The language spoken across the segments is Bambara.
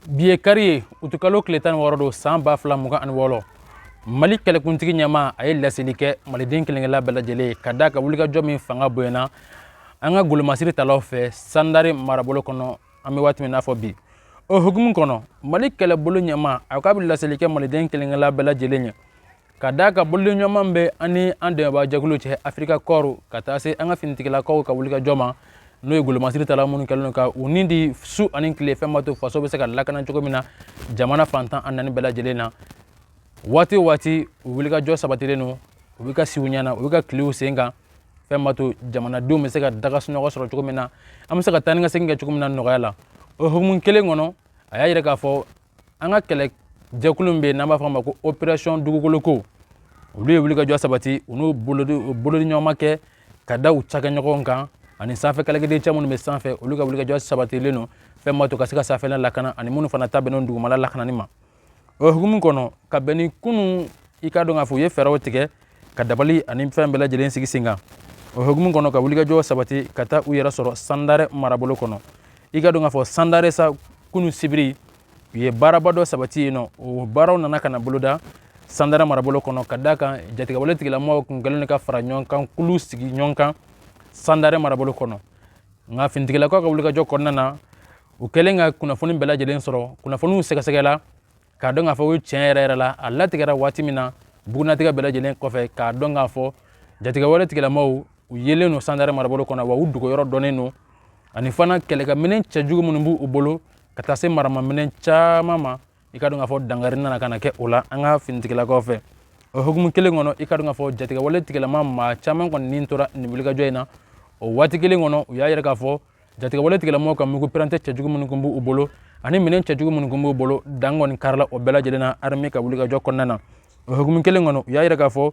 bi ye kari ye utukalo tile tan ni wɔɔrɔ don san ba fila mugan ani wɔɔrɔ mali kɛlɛkuntigi ɲɛmaa ye laseli kɛ maliden kelen kelenna bɛɛ lajɛlen ye ka da kan wulikajɔ min fanga bonyana an ka golomasiri talaw fɛ sandare marabolo kɔnɔ an bɛ waati min n'a fɔ bi o hukumu kɔnɔ mali kɛlɛbolo ɲɛmaa k'a bɛ laseli kɛ maliden kelen kelenna bɛɛ lajɛlen ye Ka da a kan bolodiɲɔgɔnma min bɛ an ni an dɛmɛbajɛkulu cɛ afirika kɔɔri ka taa se an ka finitigilakaw ka wulikajɔ ma n'o ye golomasiri talaw minnu kɛlen ka u ni di su ani tile fɛn b'a to faso bɛ se ka lakana cogo min na jamana fan tan ni naani bɛɛ lajɛlen na waati waati u wulikajɔ sabatilen don u bɛ ka si u ɲɛ na u bɛ ka tilen u sen kan fɛn b'a to jamanadenw bɛ se ka da ka sunɔgɔ sɔrɔ cogo min na an bɛ se ka taa ni ka segin kɛ cogo min na nɔgɔya la o hukumu kelen kɔnɔ a y'a jira k'a fɔ an ka kɛlɛ jɛkulu min bɛ yen n'an b'a fɔ a ma ko operation dugukoloko olu ye wulikajɔ sabati u n'u bolodiɲɔgɔnma kɛ ka da u cakɛɲɔgɔnw kan ani sanfɛ kɛlɛkɛdencɛ minnu bɛ sanfɛ olu ka wulikajɔ sabatilen don fɛn b'a to ka se ka sanfɛla lakana ani minnu fana ta bɛnnen don dugumala lakanani ma o hukumu kɔnɔ ka bɛn ni kunun i k'a dɔn k'a fɔ u ye fɛɛrɛw tigɛ ka dabali ani fɛn bɛɛ lajɛlen sigi sen kan o hukumu kɔnɔ ka wulikajɔ sabati ka taa u yɛrɛ sɔrɔ sandare marabolo kɔnɔ i k'a dɔn k'a fɔ sandare sa kunun sibiri u ye baaraba dɔ sabati yen n'o baaraw nana ka na boloda sandare marabolo kɔnɔ ka da kan jatigɛwale tigilamɔgɔw kun kɛlen ka fara ɲɔgɔn kan kulu sigi ɲɔgɔn kan sandare marabolo kɔnɔ nka finitigilakaw ka wulikajɔ kɔnɔna na u kɛlen ka kunnafoni bɛɛ lajɛlen sɔrɔ kunnafoniw sɛgɛsɛgɛla k'a dɔn k'a fɔ ko tiɲɛ yɛrɛ yɛrɛ la a latigɛra waati min na bugunnatigɛ bɛɛ lajɛlen kɔfɛ k'a dɔn k'a fɔ jatigɛwale tigilamaaw u yelen don sandare marabolo kɔnɔ wa u dogoyɔrɔ dɔnnen don ani fana kɛlɛkɛminɛn cɛjugu minnu b'u bolo ka taa se maramaminɛn caman ma i k'a dɔn k'a fɔ dankari nana ka na kɛ o la an ka finitigilakaw fɛ o hukumu kelen kɔnɔ i k'a dɔn k'a fɔ jatigɛwale tigilama maa caman kɔni ni tora nin wulikajɔ in na o waati kelen kɔnɔ u y'a yira k'a fɔ jatigɛwale tigilamɔgɔw ka mugu pɛrɛntɛ cɛjugu minnu kun b'u bolo ani minɛn cɛjugu minnu kun b'u bolo dan kɔni karila o bɛɛ lajɛlen na arme ka wulikajɔ kɔnɔna na o hukumu kelen kɔnɔ u y'a yira k'a fɔ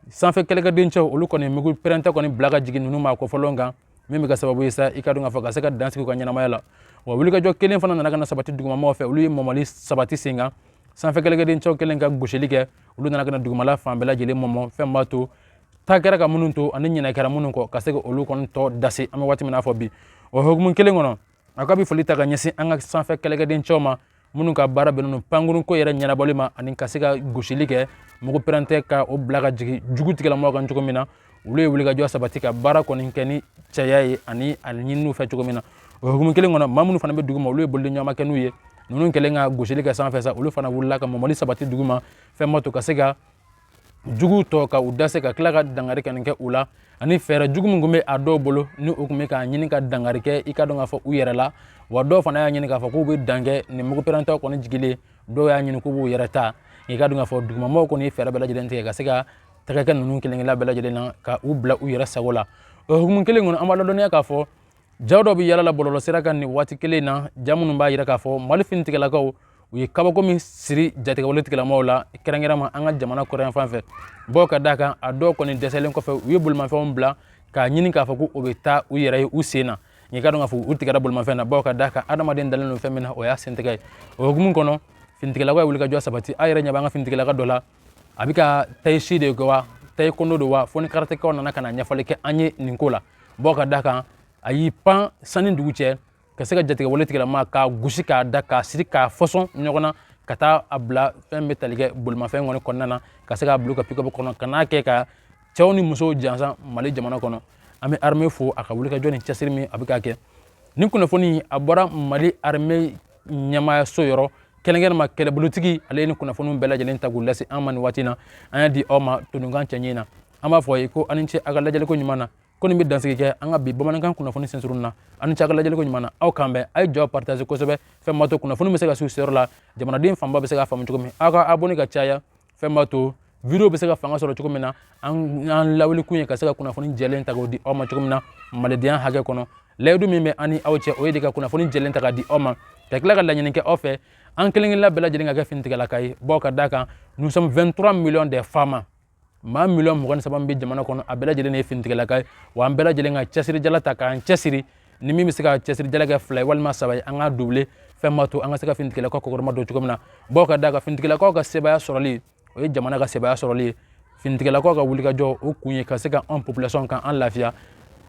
sanfɛ kɛlɛkɛdencɛw olu kɔni mugu pɛrɛntɛ kɔni bila ka jigin ninnu ma kɔfɔlɔn kan min bɛ kɛ sababu ye sa i k'a dɔn k'a fɔ ka se ka dan sigi u ka ɲɛnamaya la wa wulikajɔ kelen fana nana ka na sabati dugumamɔgɔw fɛ olu ye mɔmɔli sabati sen kan sanfɛ kɛlɛkɛdencɛw kɛlen ka gosili kɛ olu nana ka na dugumala fan bɛɛ lajɛlen mɔmɔ fɛn b'a to taa kɛra ka minnu to ani ɲinɛ kɛra minnu kɔ ka se ka olu kɔni tɔ dase an bɛ waati min n'a fɔ bi o hukumu kelen kɔnɔ a ka bi foli ta ka ɲɛsin an ka sanfɛ kɛlɛkɛdencɛw ma minnu ka baara bɛnnen don pankurunko yɛrɛ ɲɛnabɔli ma ani ka se ka gosili kɛ mugu pɛrɛntɛ ka o bila ka jigin jugu tigilamɔgɔw kan cogo min na olu ye wulikajɔ sabati ka baara kɔni kɛ ni cɛya ye ani a ɲinina u fɛ cogo min na o hukumu kelen kɔnɔ maa minnu fana bɛ dugu ma olu ye bolodiɲɔgɔnma kɛ n'u ye ninnu kɛlen ka gosili kɛ sanfɛ sa olu fana wulila ka mɔmɔli sabati dugu ma fɛn b'a to ka se ka jugu tɔ ka u dase ka tila ka dangari ka nin kɛ u la ani fɛɛrɛ jugu min tun bɛ a dɔw bolo ni u tun bɛ k'a ɲini ka dangari kɛ i ka dɔn k'a fɔ u yɛrɛ la wa dɔw fana y'a ɲini k'a fɔ k'u bɛ dan kɛ nin mugu pɛrɛntɔ kɔni jigilen dɔw y'a ɲini k'u b'u yɛrɛ ta i ka dɔn k'a fɔ dugumamɔgɔw kɔni ye fɛɛrɛ bɛɛ lajɛlen tigɛ ka se ka tɛgɛ kɛ ninnu kelen-kelen bɛɛ lajɛlen na ka u bila u yɛrɛ sago la o hukumu kelen kɔnɔ an b'a ladɔnniya k'a fɔ jaw dɔ bɛ yalala bɔlɔlɔsira kan nin waati kelen na ja minnu b'a yira k'a fɔ mali finitigilakaw u ye kabako min siri jatigɛwale tigilamɔgɔw la kɛrɛnkɛrɛnma an ka jamana kɔrɔnyanfan fɛ bɔ ka d'a kan a dɔw kɔni dɛsɛlen kɔfɛ u ye bolimafɛnw bila k'a ɲini k'a fɔ ko u bɛ taa u yɛrɛ ye u sen na i ka dɔn k'a fɔ u tigɛra bolimafɛn na bawo ka d'a kan adamaden dalen don fɛn min na o y'a sentɛgɛ ye o hukumu kɔnɔ finitigilakaw ye wulikajɔ sabati a yɛrɛ ɲɛ b'an ka finitigilaka dɔ la a bɛ ka tai-chi de kɛ wa taekwondo don wa fo ni karatekaw nana ka na ɲɛfɔli kɛ an ye nin ko la bɔ ka d'a kan a y'i pan san ni dugu cɛ ka se ka jatigɛwale tigilama k'a gosi k'a da k'a siri k'a fɔsɔn ɲɔgɔn na ka taa a bila fɛn bɛ tali kɛ bolimafɛn kɔni kɔnɔna na ka se k'a bila u ka pick-up kɔnɔ ka n'a kɛ ka cɛw ni musow jansa mali jamana kɔnɔ an bɛ armée fo a ka wulikajɔ ni cɛsiri min a bɛ k'a kɛ nin kunnafoni a bɔra mali armée ɲɛmaayaso yɔrɔ kɛrɛnkɛrɛnma kɛlɛbolotigi ale ye nin kunnafoniw bɛɛ lajɛlen ta k'u lase an ma nin waati na an y'a di aw ma todunkan cɛɲɛ na an b'a fɔ a ye ko a ni ce a ka lajɛliko ɲuman na ko nin bɛ dansigi kɛ an ka bi bamanankan kunnafoni sensurun na a ni ce a ka lajɛliko ɲuman na aw k'an bɛn a ye video partage kosɛbɛ fɛn b'a to kunnafoni bɛ se ka s'u seyɔrɔ la jamanaden fanba bɛ se k'a faamu cogo min aw ka abonné ka caya fɛn b'a to video bɛ se ka fanga sɔrɔ cogo min na an an lawuli kun ye ka se ka kunnafoni jɛlen ta k'o di aw ma cogo min na malidenya hakɛ kɔnɔ layidu min bɛ an ni aw cɛ o ye de ka kunnafoni jɛlen ta k'a di aw ma ka tila ka laɲini kɛ aw fɛ an kelen-kelenna bɛɛ lajɛlen ka kɛ finitigilaka ye bawo ka d'a kan nous sommes 23 millions de FAMa maa miliyɔn mugan ni saba min bɛ jamana kɔnɔ a bɛɛ lajɛlen de ye finitigilaka ye wa an bɛɛ lajɛlen ka cɛsirijala ta k'an cɛsiri ni min bɛ se ka cɛsirijala kɛ fila ye walima saba ye an k'a doublé fɛn b'a to an ka se ka finitigilakaw kɔkɔrɔma don cogo min na bawo ka d'a kan finitigilakaw ka sebaaya sɔrɔli o ye jamana ka sebaaya sɔrɔli ye finitigilakaw ka wulikajɔ o kun ye ka se ka an population k'an lafiya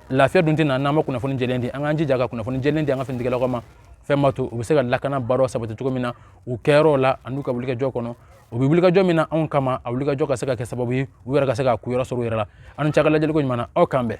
lafiya dun tɛ na n'an ma kunnafoni jɛlen di an k'an jija ka kunnafoni jɛlen di an ka finitigilakaw ma fɛn b'a to u bɛ se ka lakana baaraw sabati cogo min na u kɛyɔrɔw la an'u ka wulikajɔ kɔnɔ u bɛ wulikajɔ min na anw kama a wulikajɔ ka se ka kɛ sababu ye u yɛrɛ ka se ka kuyɔrɔ sɔrɔ u yɛrɛ la a ni ce a ka lajɛliko ɲuman na aw k'an bɛn